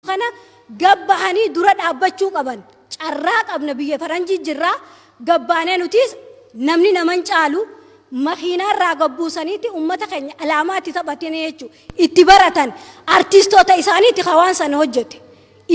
kana gad bahanii dura dhaabbachuu qaban. Carraa qabna biyya faranjii jirra gad baanee nutiis namni nama hin caalu makiinaa irraa gad buusaniiti ummata keenya alaamaa itti taphatanii jechuu itti baratan artiistoota isaaniiti ka waan sana hojjete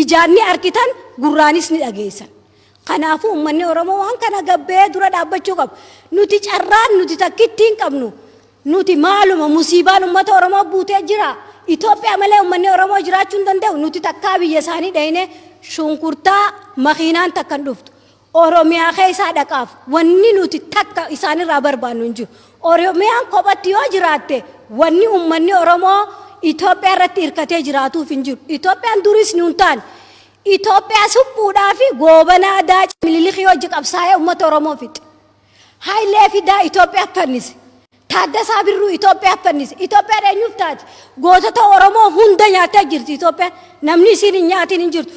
ijaan ni argitan gurraanis ni dhageessan. Kanaafuu ummanni Oromoo waan kana gad bahee dura dhaabbachuu qaba. Nuti carraan nuti takkittiin qabnu Nuti maaluma musiibaan ummata Oromoo buutee jira. Itoophiyaa malee ummanni Oromoo jiraachuu hin danda'u. Nuti takkaa biyya isaanii dhaynee shunkurtaa makiinaan takka hin dhuftu. Oromiyaa keessaa dhaqaaf wanni nuti takka isaanirraa barbaannu hin jiru. Oromiyaan kophatti yoo jiraatte wanni ummanni Oromoo Itoophiyaa irratti hirkatee jiraatuuf hin jiru. Itoophiyaan duris nuun taane. Itoophiyaa suphuudhaa fi goobanaa daaca mililikii hojii qabsaa'ee ummata Oromoo fixe. Hayilee Fidaa Itoophiyaaf fannise. Taaddasaa Birruu Itoophiyaaf fannise. Itoophiyaan eenyuuf taati? Gootota Oromoo hunda nyaattee jirti Itoophiyaan. Namni isiin hin nyaatiin hin jirtu.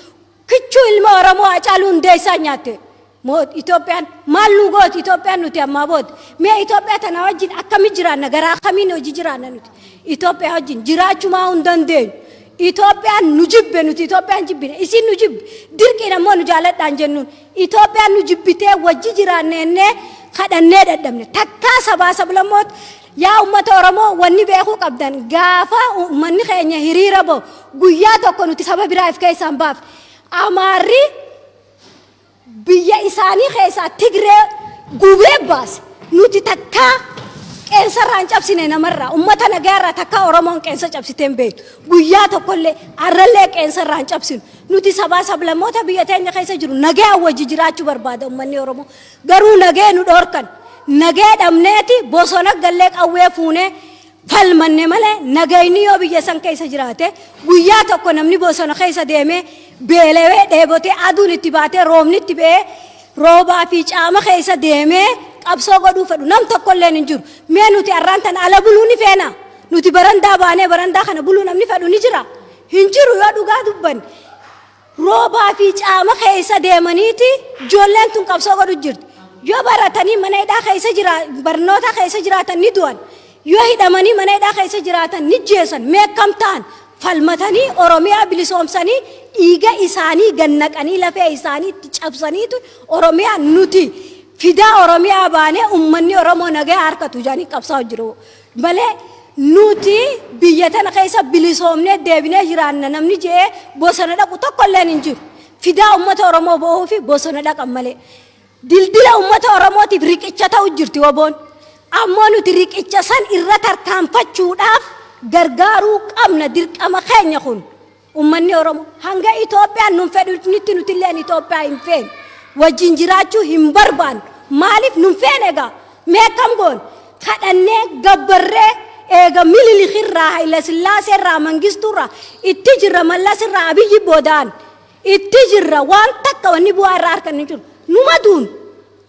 Kichuu ilma Oromoo Hacaaluu Hundeessaa nyaatte. Moot Itoophiyaan maal nu gooti Itoophiyaan nuti ammaa booda. Mee Itoophiyaa tana wajjin akkami jiraanna garaa kamiin hojii jiraanna nuti. Itoophiyaa wajjin jiraachumaa hin dandeenyu. Itoophiyaan nu jibbe nuti Itoophiyaan jibbine isiin nu jibbe dirqiin ammoo nu jaaladhaan jennuun Itoophiyaan nu jibbitee wajji jiraanne jennee kadhannee dadhabne. Takkaa sabaa sablammoot yaa ummata Oromoo wanni beekuu qabdan gaafa ummanni keenya hiriira ba'u guyyaa tokko nuti saba biraa if keessaa hin baafne. Amaarri biyya isaanii keessaa Tigree gubee baase. Nuti takkaa qeensa irraa hin cabsine namarraa ummata nagaa irraa takkaa Oromoon qeensa cabsitee hin beektu. Guyyaa tokkollee arrallee qeensa irraa hin cabsinu. Nuti sabaa sablammoota biyya teenya keessa jiru nagayaan wajji jiraachuu barbaada ummanni Oromoo. Garuu nagaya nu dhoorkan. Nagaya dhabneeti bosona gallee qawwee fuunee falmanne malee nagayni yoo biyya san keessa jiraate guyyaa tokko namni bosona keessa deemee beelawee dheebotee aduun itti baatee roobni itti ba'ee roobaa fi caama keessa deemee qabsoo godhuu fedhu nam tokkolleen hin jiru. Mee nuti arraan tan ala buluu ni feena. Nuti barandaa baanee barandaa kana buluu namni fedhu ni jira. Hin jiru yoo dhugaa dubbanne. Roobaa fi caama keessa deemaniiti ijoolleen tun qabsoo godhu jirti. Yoo baratanii mana hidhaa keessa jira barnoota keessa jiraatan ni du'an. Yoo hidhamanii mana hidhaa keessa jiraatan ni jeesan meekkam ta'an falmatanii Oromiyaa bilisoomsanii dhiiga isaanii gannaqanii lafee isaanii itti cabsaniitu Oromiyaa nuti fidaa Oromiyaa baanee ummanni Oromoo nagaa harkatu jedhanii qabsaa'u jiru. malee nuti biyya tana keessa bilisoomnee deebinee jiraanna namni je'ee bosona dhaqu tokko illeen hin jiru. Fidaa uummata Oromoo bo'uu fi bosona dhaqan malee. Dildila uummata Oromootiif riqicha ta'u jirti waboon. Ammoo nuti riqicha san irra tarkaanfachuudhaaf gargaaruu qabna dirqama keenya kun. Ummanni Oromoo hanga Itoophiyaan nun fedhinitti nutilleen Itoophiyaa hin feenu. Wajjin jiraachuu hin barbaannu. Maaliif nun feene egaa? Mee akkam goone? Kadhannee, gabbarree, eega Mililikirraa, Hayilasillaaseerraa, Mangistuurraa itti jirra Mallasirraa, Abiyyi boodaan itti jirra. Waan takka wanni bu'aa irraa arganne hin jiru. Numa duunu.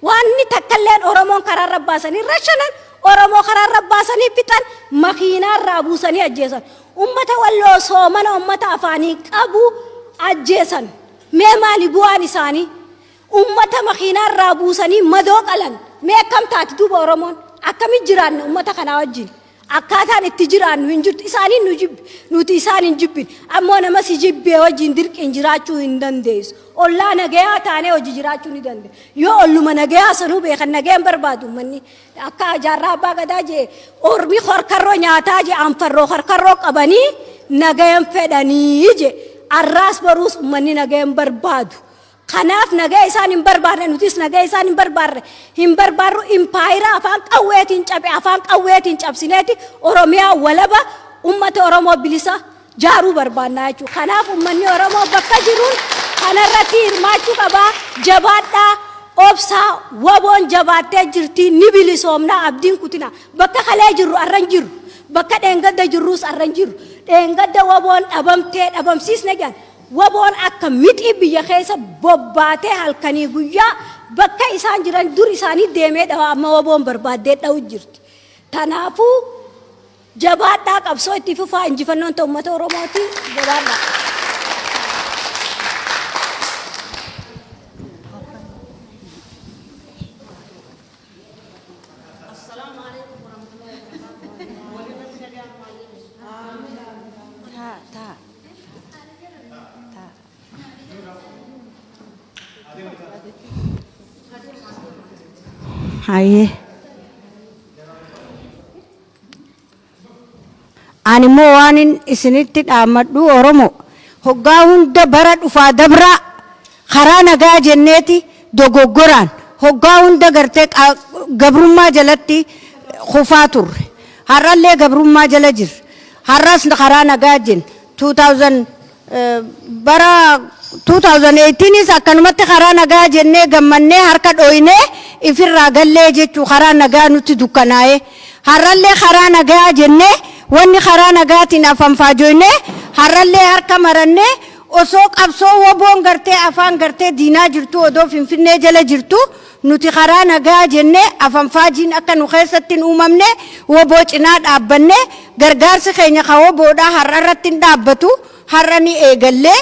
Waanni takkalleen Oromoon karaarra baasanii rashanan, Oromoo karaarra baasanii fixan, makiinaarraa buusanii ajjeesan. Ummata Walloo soomana ummata afaanii qabu ajjeesan. Mee maali bu'aan isaanii? Ummata makiinaarraa buusanii madoo qalan. Mee akkam taati duuba Oromoon? Akkamitti jiraanna ummata kanaa wajjin? Akkaataan itti jiraannu hin jirtu. Isaaniin nu jibbe, nuti isaan hin jibbine. Ammoo nama si jibbee wajjin dirqiin jiraachuu hin dandeessu. Ollaa nagayaa taanee hojii jiraachuu ni dandeenya. Yoo olluma nagayaa sanuu beekan nagayaan barbaadu manni akka jaarraa abbaa gadaa jee ormi korkarroo nyaataa jee anfarroo korkarroo qabanii nagayan fedhanii jee arraas boruus ummanni nagayan barbaadu. Kanaaf nagaya isaan hin barbaadne nutis nagaya isaan hin barbaadne hin barbaadru impaayira afaan qawweetiin cabe afaan qawweetiin cabsineeti Oromiyaa walaba ummata Oromoo bilisa jaaruu barbaannaa jechuudha. Kanaaf ummanni Oromoo bakka jiruun kanarratti hirmaachuu qabaa jabaadhaa obsaa waboon jabaattee jirtii ni bilisoomnaa abdiin kutina bakka kalee jirru arran jirru bakka dheengadda jirruus arran jirru dheengadda waboon dhabamtee dhabamsiisne jedhan Wboon akka mixii biyya keessa bobbaatee halkanii guyyaa bakka isaan jiran dur isaanii deemee dhawa amma wboon barbaaddee dhawu jirti. Tanaafuu jabaadhaa qabsoo itti fufaa injifannoon ta ummata Oromooti jabaadhaa. Hayyee. Ani immoo waanin isinitti dhaammadhu Oromoo hoggaa hunda bara dhufaa dabraa Karaa nagaa jenneeti dogoggoraan hoggaa hunda gartee gabrummaa jalatti kufaa turre. Har'allee gabrummaa jala jirra. Har'as karaa nagaa jenna. 2000 bara 2018s akkanumatti karaa nagaa jennee gammannee harka dhooynee ifirraa gallee jechuu karaa nagaa nutti dukkanaa'ee. Har'allee karaa nagaa jennee wanni karaa nagaatiin afanfaajoynee har'allee harka marannee Osoo qabsoo wboon gartee afaan gartee diinaa jirtuu odoo finfinnee jala jirtuu nuti karaa nagaa jennee afanfaajiin akka nu keessatti hin uumamnee wbo cinaa dhaabbannee gargaarsi keenya ka wbo dhaa har'a irratti hin dhaabbatu har'a ni eegallee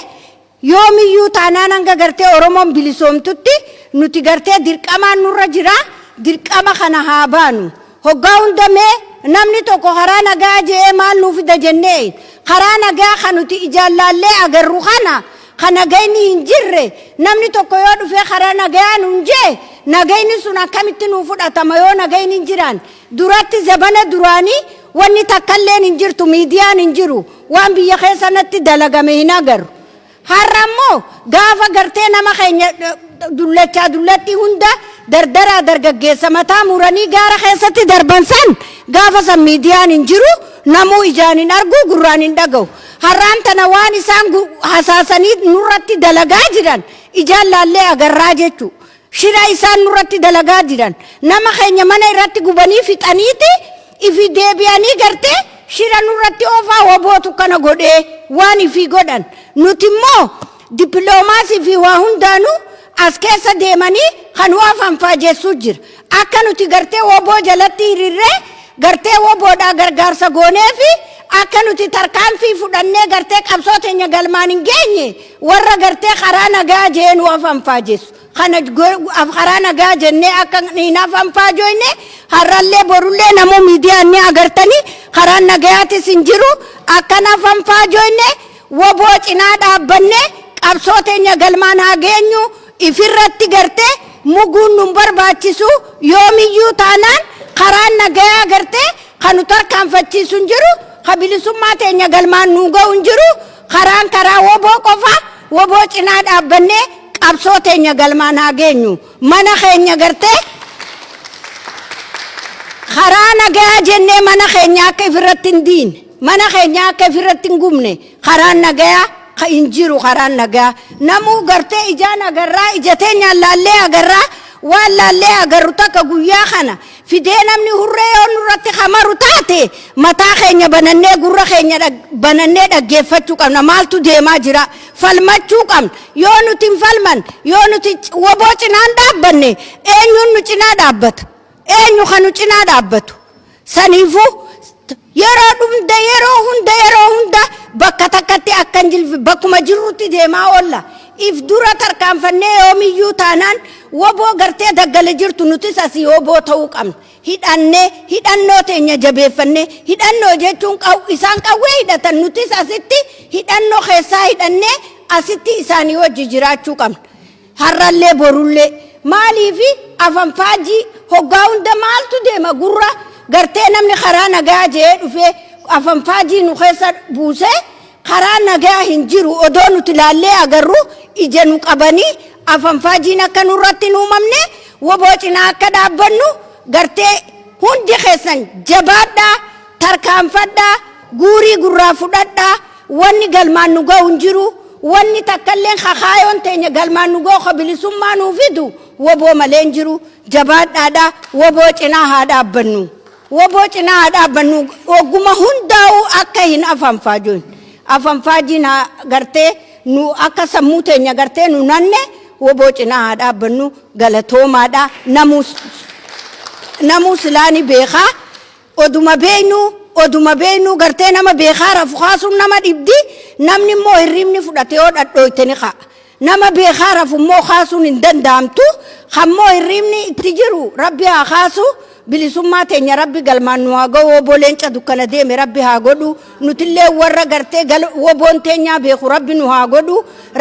yoomiyyuu taanaan hanga gartee oromoon bilisoomtutti nuti gartee dirqamaan nurra jiraa dirqama kana haa baanu Hoggaa hunda mee namni tokko karaa nagaya je'ee maal nuu fida jennee karaa nagaya ka nuti ijaan laallee agarru kana ka nagayni hin jirre namni tokko yoo dhufee karaa nagayaa nuun je'e nagayni sun akkamitti nuu fudhatama yoo nagayni hin jiraan duratti zabana duraanii wanni takkalleen hin jirtu miidiyaan hin jiru waan biyya keessanatti dalagame hin agarru Har'a ammoo gaafa gartee nama keenya dullachaa dullattii hunda dardaraa dargaggeessa mataa muranii gaara keessatti darban san gaafa san miidiyaan hin jiru namuu ijaan hin argu gurraan hin dhagahu. Har'aan tana waan isaan hasaasanii nurratti dalagaa jiran ijaan laallee agarraa jechuudha. Shira isaan nurratti dalagaa jiran nama keenya mana irratti gubanii fixaniiti ifi deebi'anii gartee shira nurratti oofaa wabootu kana godhee waan ifii godhan nuti immoo dippiloomaasii fi waa hundaanuu as keessa deemanii kan waa fanfaajessuu jira akka nuti gartee waboo jalatti hirirree gartee waboodhaa gargaarsa goonee fi akka nuti tarkaanfii fudhannee gartee qabsoo teenya galmaan hin geenye Warra gartee karaa nagaa jee nu afanfaajessu kana karaa nagaa jennee akka hin afanfaajoyne har'allee borullee namoo miidiyaan ni agartanii karaan nagayaatis hin jiru akkan afanfaajoyne waboo cinaa dhaabbanne qabsoo teenya galmaan haa geenyu ifirratti gartee muguun nun barbaachisu yoomiyyuu taanaan karaan nagayaa gartee kanu tarkaanfachiisu hin jiru ka bilisummaa teenya galmaan nuu ga'u hin jiru Karaan karaa wbo qofa, wbo cinaa dhaabbannee qabsoo teenya galmaan haa geenyu. Mana keenya gartee karaa nagayaa jennee mana keenya akka ifirratti hin diine, mana keenya akka ifirratti hin gubne karaan nagayaa ka hin jiru karaan nagayaa. Namuu gartee ijaan agarraa, ija teenyaan laallee agarraa, waan laallee agarru takka guyyaa kana fidee namni hurree yoo nurratti ka maru taate mataa keenya banannee gurra keenya dhag- banannee dhaggeeffachuu qabna maaltu deemaa jira falmachuu qabna yoo nuti hin falman yoo nuti c- woboo cinaan dhaabbanne eenyuun nu cinaa dhaabbata eenyu kan nu cinaa dhaabbatu saniifuu Yeroo dhumda yeroo hunda yeroo hunda bakka takkatti akka hin jilfi bakkuma jirrutti deemaa oolla. If dura tarkaanfannee yoomiyyuu taanaan woboo gartee daggale jirtu nutis asii woboo ta'uu qabna. Hidhannee hidhannoo teenya jabeeffannee hidhannoo jechuun qaw isaan qawwee hidhatan nutis asitti hidhannoo keessaa hidhannee asitti isaanii wajji jiraachuu qabna. Harrallee borullee. Maaliifi afanfaajjii hoggaa hunda maaltu deema gurra gartee namni karaa nagayaa je'ee dhufee afanfaajjii nu keessa buusee karaa nagayaa hin jiru odoo nuti laallee agarru ija nu qabanii afanfaajjiin akka nurratti hin uumamne woboo cinaa akka dhaabbannu gartee hundi keessan jabaadhaa tarkaanfadhaa guurii gurraa fudhadhaa Wanni galmaan nu gahu hin jiru, wanni takkalleen ka kaayoon teenya galmaan nu gahu ka bilisummaa nuu fidu wbo malee hin jiru. Jabaadhaa dha, wbo cinaa haa dhaabbannu. Wbo cinaa haa dhaabbannu. Ogguma hundaa'uu akka hin afanfaajoin. Afanfaajiin haa gartee nu akka sammuu teenya gartee nu nanne wbo cinaa haa dhaabbannu. Galatoomaa dha. Namuu s- namuu silaa ni beekaa. Oduma beeynu oduma beeynu gartee nama beekaa rafu kaasuun nama dhibdi namni immoo hirriibni fudhate yoo dhadhooyte ni ka'a nama beekaa rafu immoo kaasuun hin danda'amtu kan immoo hirriibni itti jiru rabbi haa kaasu bilisummaa teenya rabbi galmaan nu haa ga'u oboo leenca dukkana deeme rabbi haa godhu nutillee warra gartee gal woboon teenyaa beeku rabbi nu haa godhu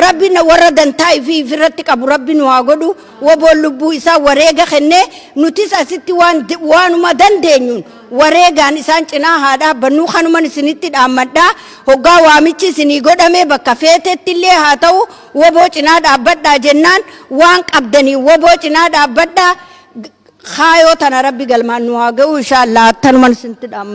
rabbi na warra dantaa ifii ifirratti qabu rabbi nu haa godhu woboon lubbuu isaa wareega kennee nutis asitti waan waanuma dandeenyuun wareegaan isaan cinaa haa dhaabbannuu kanuman isinitti dhaammadhaa hoggaa waamichi isinii godhamee bakka feetetti illee haa ta'u woboo cinaa dhaabbadhaa jennaan waan qabdanii woboo cinaa dhaabbadhaa kaayoo tana rabbi galmaan nu haa ga'u inshaallah attanuman isinitti dhaammadha